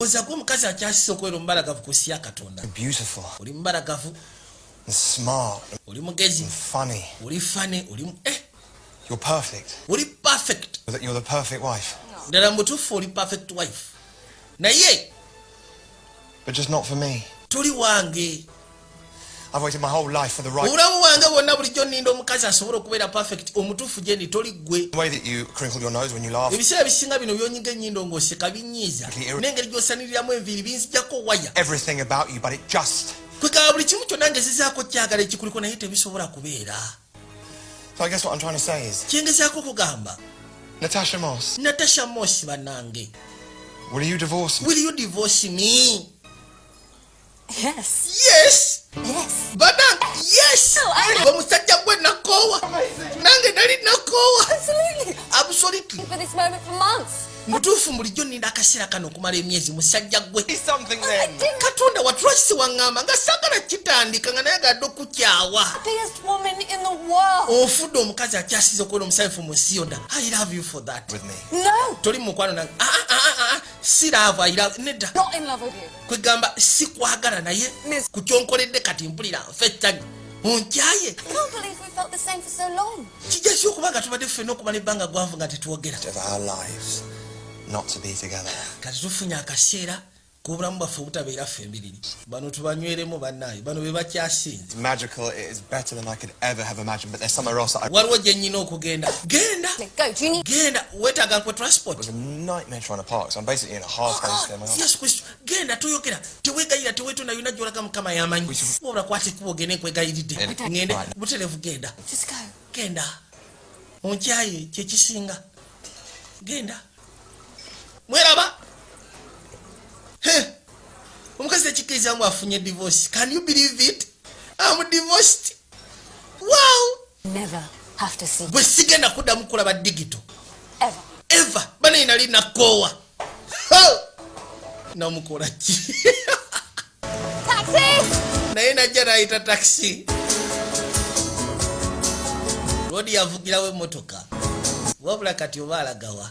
oza kuba omukazi akyasisa okubeera omubalagavu ku nsi ya katonda oli mubalagavu oli mugezi oli fane oli eh. oli perfect ddala mutuufu oli perfect wife naye toli wange obulamu bwange bwonna bulijjo ninda omukazi asobola okubeera perfect omutuufu gyendi toli ggwe ebiseera ebisinga bino byonyiga ennyindo ng'oseka binyiiza n'engeri gy'osaniriramu enviiri binzijako waya kwegaba buli kimu kyonna ngezezaako kyagala ekikuliko naye tebisobola kubeera kyengezaako okugamba natasha mos natasha mos banange will you divorce me? Yes. Yes. Yes. Badan, yes. Oh, I know. Bamusajja gwe nakoowa. Nange nali nakoowa. Absolutely. Absolutely. For this moment for months. mutuufu bulijjo nina akaseera kano okumala emyezi musajja gwe katonda watulwakisi waŋŋamba nga sagala kitandika nga naye agadde okukyawa ofudde omukazi akyasiza okubeera omusanyufu mu nsi yonna i love you for that toli mu mukwano nange ah, ah, ah, si laavu nedda kwegamba sikwagala naye ku kyonkoledde kati mpulira nfa ettanyi onkyaye kijasi okuba nga tubadde ffena okumala ebbanga gwanvu nga tetwogera kati tufunye akaseera kobulamu bwaffe obutabeera ffe embiriri bano tubanyweremu banaye bano bebakyasinga waliwo gye nnyina okugenda genda genda weetaaga nkwe transportyesu kristo genda toyogera tewegayira tewetunda yona gyolaga mukama yamanyi wabula kwata ekkuba ogende nkwegayiridde ŋende buterevu genda genda onkyaye kyekisinga genda mweraba omukazi ekikkiriza mbu afunye divorce can you believe it am divorced wow bwe sigenda kuddamu kulaba digito eva banaye nali nakoowa namukola ki naye najja nayita takisi lodi yavugirawo emotoka wabula kati oba alagawa